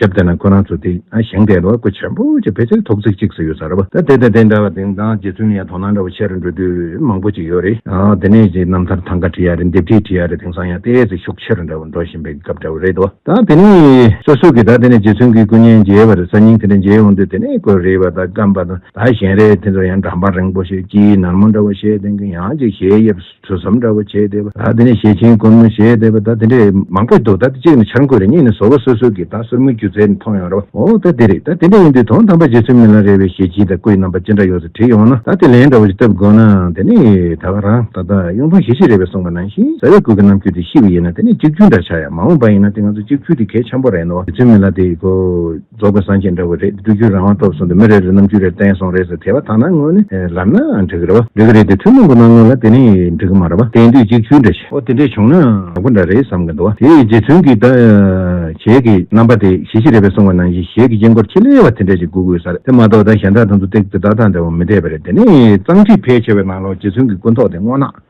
སྐྱབས་དེ་ན་ཁོ་རང་ཚོ་དེ་ཨ་ཞང་སྐད་ལ་སྐུ་ཆེན་པོ་ཅིག་ཕལ་ཆེར་ཐོག་བརྩེགས་གཅིག་སུ་ཡོད་ས་རེད་བ་ད་དེ་དང་དེ་འདྲ་བ་དེང་སང་རྗེ་བཙུན་ཡང་དོ་སྣང་འདྲ་བ་བྱེད་རུ་འགྲོ་དུས་མང་པོ་ཅིག་ཡོད་རེད་དེ་ནས་རྗེ་རྣམ་ཐར་ཐང་ག་བྲིས་ཡ་རེད་འདེབས་བྲིས་བྲིས་ཡ་རེད་དེང་སང་ཡང་ལྟས་ཚེ་ཤུགས་ཆེ་རུ་འདྲ་བ་འགྲོ་བཞིན་པའི་སྐབས་འདྲ་བ་རེད་བ་ད་དེ་ནས། སོ་སོ་གིས་ད་དེ་ནས་རྗེ་བཙུན་གྱི་སྐུ་བརྙན་མཇལ་བ་རེད་ས་སྙིང་དེ་འདྲ་མཇལ་ཡོང་དུས་དེ་ནས་དགོད་རེད་བ་ད་སྐམ་པ་དང་ད་ཞན་རེད་དེ་ཚོ་ཡང་འགྲམ་པ་རིང་པོ་ཞིག་དཀྱིལ་ནར་མོ་འདྲ་བ་བཤད་དོན་གྱི་ཡང་ཅིག་ཞལ་དབྱེ་བ། ཐོས་བསམ་འདྲ་བོ་བྱས་བསྡད་པ་ད་དེ་ནས་ཞེ་ཆེན་དཀོན་མོ་བྱས་བསྡད་པ་ད་དེ་འདྲས་མང་པོ་འདུག་ད་དེ་གཅིག་ནས་འཆར་འགོད་རེད་གཉིས་ནས་ཟོ་བ་སོ་སོ་གི་ད་སོར་མོ་རྒྱུ་རྫས་མཐོང་ཡོང་ར་བ་འོ་ད་དེ་རེད་ད་དེ་འདྲས་ཡིན་དུས་དོན་དམ་པ་རྗེ་བཙུན་མི་ལ་རས་པའི་ཞེ་ཆེན་དང་སྐུའི་རྣམ་པ་ཅི་འདྲ་ཡོད་ཚུལ་བྲིས་ཡོང་ན་ད་དེ་ལན་འདྲ་བོ་ཞིག་བཏབ་དགོས་ན་དེ་ནས་ད་ག་རང་ད་ལྟ་གཡུང་དྲུང་ཞེ་བཞི་རས་པས་གསུངས་པ་ནང་བཞིན་ཟ་བའི་སྐུ་གི་རྣམ་འགྱུར་དེ་ཤི་བ་ཡིན་ན་དེ་ནས་གཅིག་གྱུར་འདྲ་ཆགས་ཡ་མ་འོངས་པ་ཡིན་ན་དེ་ང་ཚོ་གཅིག་འཕུལ་དེ་གལ་ཆེན་པོ་རེད་ནོ་རྗེ་བཙུན་མི་ལ་དེ་གོ། རྫོགས་པའི་སངས་རྒྱས་འདྲ་བོ་རེད་བསྒྲུབ་རྒྱུ་རང་དབང་ཐོབ་སོང་དུ་མི་རེ་རེ་རྣམ་དཔྱོད་རེ་བསྟན་སོང་རེད་ཟེར་དེ་བ་ཐང་ན་དངོས་ནི་ལབ་ན་འགྲིག་གི་རེད་བ། འགྲིག་གི་རེད་དེ་ཐུན་མོང་གི་སྣང་ངོ་ལ་དེ་ནི་འགྲིག་གི་མ་རེད་བ་གཏན་སྡོད་གཅིག་ཆུའི་འདྲ་ཞིག་ཨོ་དེ་འདྲས་བྱུང་ན་ཡག་པོ་འདྲ་རེད་བསམ་གི་འདུག་བ་དེའི་རྗེས་མཐུན་གྱི་ད་བྱས་ཀྱི་རྣམ་པ་དེ་གཞི་གཞི་རེད་བས་སོང་བ་ནང་བཞིན་གཞས་ཀྱི་དཀྱིལ་འཁོར་ཁྱི་ལེ་བ་དེ་འདྲས་ཞིག་སྒུག་དགོས་ས་རེད་དེ་མ་གཏོགས་ད་གཞན་དག་ཐང་དུ་སྟེགས་དེ་དག་དང་འདྲ་བོ་མི་འདྲས་པ་རེད་དེ་ནི་གཙང་ཁྲིད་ཕལ་ཆེ་བའི་ནང་ལོགས་རྗེས་མཐུན་གྱི་ཀུན་རྟོག་དེ་སྔོ་ནག།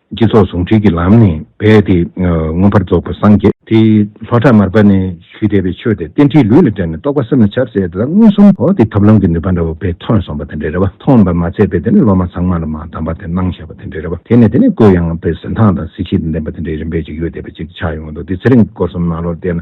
སྤྱི་ཚོགས་ཟུང་འབྲེལ་གྱི་ལམ་ནས་འབད་དེ་མངོན་པར་རྫོགས་པར་སངས་རྒྱས། དེ་ལྷོ་བྲག་མར་པ་ནས་ཞུས་དད་པའི་ཆོས་དེ་རྟེན་འཁྲིའི་ལུས་ལ་དྲན་ནས་རྟོགས་པ་སེམས་ལ་ཁྱབ་ཟེར་དེ་དག་མངོན་སུམ་དུ་དེ་ཐབས་ལམ་གྱི་ནུས་པ་འདྲ་བོ་བས་ཐོན་སོང་བ་དེ་འདྲའི་རེ་བ་མཐོང་བར་མ་ཚད་པས་དེ་ནས་སློབ་མ་ཚང་མ་ལ་མ་གདམས་པ་དེ་གནང་ཞེས་པ་དེ་འདྲའི་རེ་བ་དེ་ནས་དེ་ནས་བསྐུལ་ཡང་བས་གཟི་མདངས་དང་གཟི་བྱིས་དང་ལྡན་པ་དེ་འདྲའི་རིམ་པས་ཅིག་ཡོད་དད་པ་ཅིག་ཆགས་ཡོང་བ་འདུག་དེ་ཚེ་རིང་གི་སྐོར་གསུམ་ནང་ལོར་བལྟས་ན་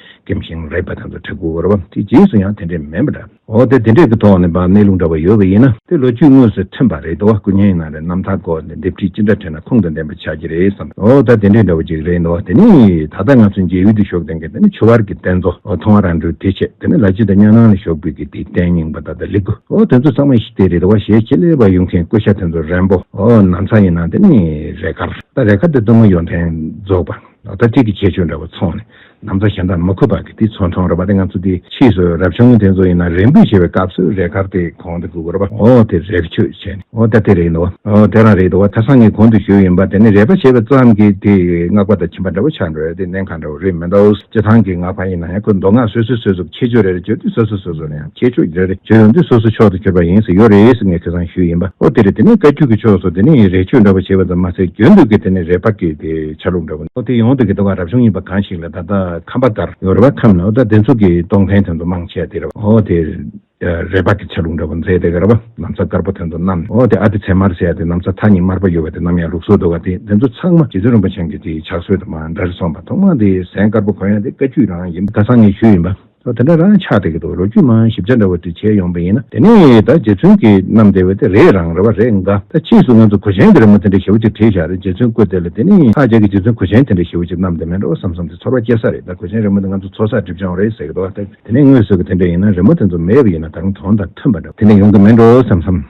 སྐེམ་ཞིང་རེག་པ་དང་དུ་དྲི་གུ་བོར་བ་དེ་རྗེས་སུ་ཡང་དེ་འདྲས་མིན་པ་འདྲ། འོ་དེ་དེ་འདྲས་ཀྱི་ཐོག་ནས་བ་སྣའི་རླུང་འདྲ་བ་ཡོད་པ་ཡིན་ན། དེ་ལོ་རྒྱུས་དངོས་སུ་ཐོན་པ་རེད་འདུག་སྐུ་བརྙན་ནང་རེད་ནམ་ཐག་གོ་དེ་འདེབས་ཁྲིད་ཅི་འདྲ་བྲིས་ན་ཁུངས་དང་ལྡན་པ་ཆགས་ཀྱི་རེད་བསམ། འོ་ད་དེ་འདྲས་འདྲ་བ་ཅིག་རེད་འདུག་དེ་ནི། ད་ལྟ་ང་ཚོའི་མཇལ་ཡུལ་དུ་ཞོགས་ལྡན་གྱི་དེ་ནི་ཆུ་བར་གྱི་རྟེན་མཚོ་འོ་མཐོང་བ་རང་གྲོལ་དེ་ཆེད་དེ་ནི་ལ་ཆེ་དང་གཉའ་ནང་ལ་ཞོགས་པའི་གི་དེའི་རྟེན་རྙིང་པ་ད་ད་ལི་གུ་འོ་དེ་ཚོ་ཚང་མ་ཞིག་དེ་རེད་འདུག་ཞེས་ཁྱེད་ལས་བ་ཡུལ་མཁན་སྐུ་ཞབས་དེ་ཚོ་རན་པོ་འོ་ནམ་ཚག་ཡིན་ན་དེ་ནི་རས་དཀར་ད་རས་དཀར་དེ་གཏུམ་མོ་ཡོ་མཚན་རྫོགས་པ་ད་ད་ཁྲིད་ཀྱི་ཁྱད་ཆོས་འདྲ་བ་ཚོགས་ནས་ནམ་མཚོ་ཞལ་མདངས་མ་ཁུར་བར་གྱི་དུས་ཚོད་འཕྲོ་འགྲོ་བ་དེ་ང་ཚོ་དེ་ཕྱིས་སུ་རབ་བྱུང་དེ་ཚོ་ཡིན་ན་རེ་འབོད་བྱེད་པའི་སྐབས་སུ་རས་དཀར་དེ་གང་དུ་བསྒུག་རོགས་པ་འོ་དེ་རས་ཁྱོད་བྱས་ནས་འོ་ད་དེ་རེད་འདུག་འོ་དེ་རང་རེད་འདུག་ད་སང་ངས་གང་དུ་བཞུགས་ཡིན་པ་དེ་ནི་རས་པ་བྱས་པ་ཙམ་གྱིས་དེ་སྔགས་པ་དང་ཁྱིམ་པ་འདྲ་བོ་ཆགས་འགྲོ་བས་དེ་གནད་གང་འདྲ་བོ་རེད་མི་འདུག་སྤྱི་ཐང་གི་སྔགས་པ་ཡིན་ན་ཡང་ཁོས་མདོ་སྔགས་སོ་སོའི་སྲོལ་བཟོ་ཁྱད་ཆོས་རེ་རེ་བརྗོད་དུས་སོ་སོ་སོ་སོ་ལ་ཡང་ཁྱད་ཆོས་རེ་རེ་བརྗོད་ཡོང་དུས་སོ་སོ་ཕྱོགས་དུ་གྱུར་པ་ཡིན་ཟེར་ཡོད་རེད་ངས་ཁེ་སང་བཞུགས་ཡིན་པ་འོ་དེ་རེད་དེ་ནི་བཀའ་བརྒྱུད་ཀྱི་ཕྱོགས་སུ་དེ་ནི་རས་ཁྱོད་འདྲ་བོ་བྱས་པ་ཙམ་མ་ཟད་གྱོན་འདུག་གི་དེ་ནི་རས་པ་གི་དེ་ཆ་ལུགས་འདྲ་བོ། ཨོ་ཏི་ཡོངས་འདུ་གི་ཟློ་བ་རབ་བྱུང་ཡིན་པ་གང་ཞིག་ལ་ད་ལྟ་ཁམས་པ་དར་ཡོ་རི་བ་ཁམས་ན་ཨོ་ད་བདེ་མཚུགས་ཀྱི་སྟོང་ཕན་དོན་དུ་མང་ཆེ་དེ་རེད་བ་ཨོ་དེ་རས་བག་གི་ཆ་ལུགས་འདྲ་བོ་མཛེས་དེ་ག་རེད་བ་ནམ་ཚ་དཀར་པོ་དོན་དུ་གནམ་ཨོ་དེ་ཨ་དེ་ཚེར་མར་བྱས་དེ་ནམ་ཚ་ཐག་ཉིད་དམར་པོ་ཡོ་བ་དེ་ནམ་ཡང་ལུགས་སྲོལ་དུ་བ་དེ་བདེ་མཚུགས་ཚང་མ་རྗེ་བཙུན་རིན་པོ་ཆེན་གྱི་དེ་ཇག་སྲོལ་དུ་མ་འདྲ་རེད་སོང་བ་ཐོག་མ་དེ་ཟན་དཀར་པོ་གོ་ཡང་དེ་བཀའ་བརྒྱུད་རང་ཡིན། ད་སང་ངེ་ཤུལ་ཡིན་པ། ད་དེ་འདྲ་རང་ཆགས་བསྡད་ཀྱི་འདུག་ལོ་རྒྱུས་མང་ཞིབ་ཆ་འདྲ་བོ་འདི་བྱས་ཡོང་པ་ཡིན་ན་དེ་ནས་ད་རྗེ་བཙུན་གྱི་རྣམ་བདེ་བས་དེ་རེད་རང་རེ་བ་རེད་འགའ་ད་ཕྱིས་སུ་ང་ཚོ་གོ་ཆེན་གྱི་རེ་མོ་དེ་འདྲ་ཞེ་བོ་ཅིག་བྲིས་བཞག་རེད་རྗེ་བཙུན་བཀོད་དེ་ལ་དེ་ནས་ད་རྗེས་ཀྱི་རྗེ་བཙུན་གོ་ཆེན་དེ་འདྲ་ཞེ་བོ་ཅིག་རྣམ་བདེ་མེད་འགྲོ་བསམ་བསམ་དེ་ཚོར་བ་སྐྱེ་ས་རེད་ད་གོ་ཆེན་རེ་མོ་དེ་ང་ཚོ་ཚོགས་སར་འགྲིབ་བྱུང་རེད་ཟེར་གྱི་འདུག་ད་དེ་ནས་དངོས་སུ་གི་དེ་འདྲ་ཡིན་ན་རེ་མོ་དེ་ཚོ་མེད་པ་ཡིན་ན་ད་རུང་གྲོང་དང་མཐུན་པ་འདྲ་བོ་དེ་འདྲ་ཡོང་གི་མེད་འགྲོ་བསམ་བསམ།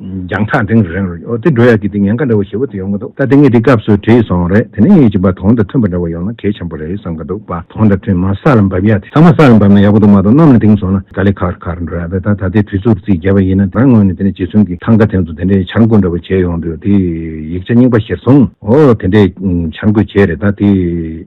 རྒྱང་ཐག་འདིང་རན་རེད་འོ་དེ་འགྲོ་ཡག་གི་དེ་ངན་ག་འདྲ་བོ་ཞེ་བོ་དེ་ཡོང་གི་འདུག་ད་དེ་ངས་འདི་སྐབས་སུ་བྲིས་སོང་རེད་དེ་ནས་ངས་ཀྱི་བ་དོང་དང་མཐུན་པ་འདྲ་བོ་ཡོང་ན་གལ་ཆེན་པོ་རེད་བསམ་གི་འདུག་བ་དོང་དང་མཐུན་མ་ས་ལ་འབབ་ཡག་དེ་ཚང་མ་ས་ལ་འབབ་ན་ཡག་པོ་འདུག་མ་གཏོགས་གནམ་ལ་འདིང་སོང་ན་ག་ལེ་ཁར་ཁར་འགྲོ་ཡག་རེད་ད་ད་ལྟའི་དུས་ཚོད་རྩིས་རྒྱས་པ་ཡིན་ན་རང་ངོས་ནས་དེ་ནས་རྗེ་བཙུན་གྱི་ཐང་ག་དེ་ཚོ་དེ་འདྲའི་འཆར་འགོད་འདྲ་བོ་བྱས་ཡོང་དུས་དེ་ཡིག་ཆ་རྙིང་པ་གཞིར་བཟུང་འོ་དེ་འདྲའི་འཆར་འགོད་བྱས་རེད་ད་དེ།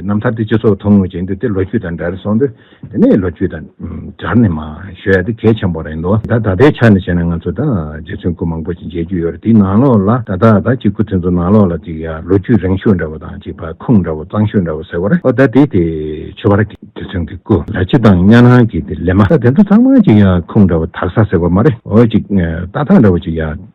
རྣམ་ཐར་དེ་སྤྱི་ཚོགས་ཐུང་ངུ་ཅན་དུ་དེ་ལོ་རྒྱུས་དང་འདྲ་རེ་སོང་དུས་དེ་ནས་ལོ་རྒྱུས་དང་སྦྱར་ནས་མ་ཤོད་ཡ་དེ་གལ་ཆེན་པོ་རེད་འདུག་ད་ད་ལྟའི་ཆ་ནས་བཤད་ན་ང་ཚོ་ད་རྗེ་བཙུན་སྐུ་མང་པོ་ཞིག་མཇལ་རྒྱུ་ཡོད་རེད་དེའི་ནང་ལོགས་ལ་ད་ད་ད་ཅིག་སྐུ་དེ་ཚོ་ནང་ལོགས་ལ་ཅིག་ཡ་ལོ་རྒྱུས་རིང་ཤོས་འདྲ་བོ་དང་ཅིག་བར་ཁུང་འདྲ་བོ་གཙང་ཤོས་འདྲ་བོ་ཟེར་བ་རེད་ཨོ་ད་དེ་དེ་ཆོས་བར་གྱི་རྗེ་བཙུན་གྱི་སྐུ་ལ་སྤྱི་དང་གཉའ་ནང་གི་དེ་ལས་མ་ད་དེ་ཚོ་ཚང་མ་ཅིག་ཡ་ཁུང་འདྲ་བོ་དག་ས་ཟེར་བ་མ་རེད་ཨོ་ཅིག་རྟ་ཐང་འདྲ་བོ་ཅིག་ཡ།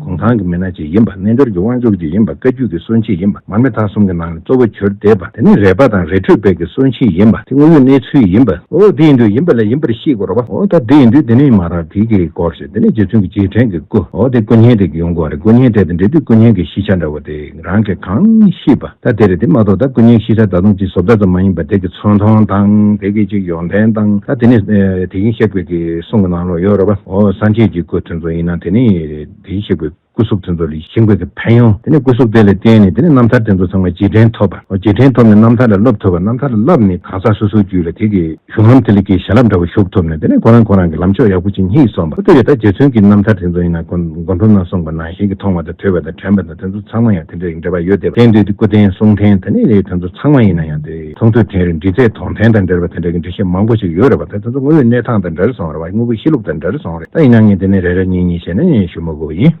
གུང་ཐང་གི་མི་སྣ་གཅིག་ཡིན་པ་རྣལ་འབྱོར་གྱི་དབང་ཕྱུག་གཅིག་ཡིན་པ་བཀའ་རྒྱུད་ཀྱི་སྲོལ་འབྱེད་ཡིན་པ་མར་མེ་ཐང་གསུམ་གྱི་ནང་ནས་གཙོ་བོ་གྱུར་བསྡད་པ་དེ་ནི་རས་པ་དང་རས་ཁྲུས་དཔལ་གྱི་སྲོལ་འབྱེད་ཡིན་པ་དེ་དངོས་ཡོད་གནས་ཚུལ་ཡིན་པ། འོ་དེ་ཡིན་དུས་ཡིན་པ་ལ་ཡིན་པར་ཤེས་དགོས་རོགས་པ། འོ་ད་དེ་ཡིན་དུས་དེ་ནི་མ་རག་དེ་གི་སྐོར་ཞིག་དེ་ནི་རྗེ་བཙུན་གྱི་རྗེས་དྲན་གྱི་སྐུ་འོ་དེ་སྐུ་བརྙན་དེ་གི་ཡོང་སྒོ་རེད་སྐུ་བརྙན་དེ་དང་འབྲེལ་དུས་སྐུ་བརྙན་གྱི་གཞི་ཆ་འདྲ་བོ་དེ། རང་གིས་གང་ཤེས་པ་ད་དེ་རེད་དེ་མ་གཏོགས་ད་ཀུན་མཁྱེན་ཤེས་བྱ་ད་དུང་ཅི་བཟོ་བདག་ཙམ་མ་ཡིན་པར་དེ་གི་ཚོང་མཐོང་དང་དེ་གི་ཅིག་ཡོང་ཐེན་དང་ད་དེ་ནི་དེ་གིན་ཤེས་དགོས་ཀི་གསུང་གི་ནང་ལོག་ཡོད་རོ་བ་ཨོ་སང་ཁྱེད་ཀྱི་སྐུ་ཐུན་ཚོགས་ཡིན་ན་དེ་ནི་དེ་གིན་ཤེས་དགོས་ཀི་སྐུ་གཟུགས་ཐུན་ཚོགས་ལི་ཤིན་དགོས་ཀི་ཕན་ཡོང་དེ་ནི་སྐུ་གཟུགས་དེ་ལ་བརྟེན་ནི་དེ་ནི་རྣམ་ཐར་དེ་ཚོ་ཚང་མ་རྗེས་དྲན་ཐོབ་པ་ཨོ་རྗེས་དྲན་ཐོབ་ནི་རྣམ་ཐར་ལ་སློབ་ཐུབ་པ་རྣམ་ཐར་ལ་བསླབ་ནི་གང་ཟག་སོ་སོའི་རྒྱུད་ལ་དེ་གི་གཞུང་ལམ་དེ་ལ་ཀི་ཞལ་རླབས་འདྲ་བོ་ཞུགས་ཐུབ་ནི་དེ་ནི་ཁོ་རང་ཁོ་རང་གི་ལམ་ཕྱོགས་ཡག་པོ་ཅིག་སྙིགས་སོང་པ་ཨོ་དེ་བས་ད་རྗེ་བཙུན་གི་རྣམ་ཐར་དེ་ཚོ་ཡིན་ན་མགོ་འཁྲུམ་ན་གསུངས་པ་ནང་བཞིན་གི་མཐོང་བ་དང་ཐོས་པ་དང་དྲན་པ་དང། དེ་ཚོ་ཚང་མ་ཡང་དེ་འདྲ་ཡིན་འདྲ་པར་ཡོད་དེ། བསྟན་དུས་སྐུ་རྟེན་གསུང་རྟེན་ད་ནི་རེད་དེ་ཚོ་ཚང་མ་ཡིན་ན་ཡང་དེ། ཚོང་དུས་རྟེན་རེད་འབྲི་རྩལ་དོང་རྟེན་དང་འདྲ་རེད་པ་དེ་འདྲ་གི་འབྲི་བཤད་མང་པོ་ཞིག་ཡོད་རེད་པ་དེ་ཚོ་དངོས་ཡོད་གནས་སྟངས་དང་འདྲ་རེ་སོང་རེད་པ་དངོས་པོའི་གཤིས་ལུགས་དང་འདྲ་རེ་སོང་རེད་ད་ཡིན་ན་ངས་དེ་ནས་རེ་རེ་གཉིས་གཉིས་བཤད་ན་ཉན་ཞུ་མ་དགོས་པ་ཡིན།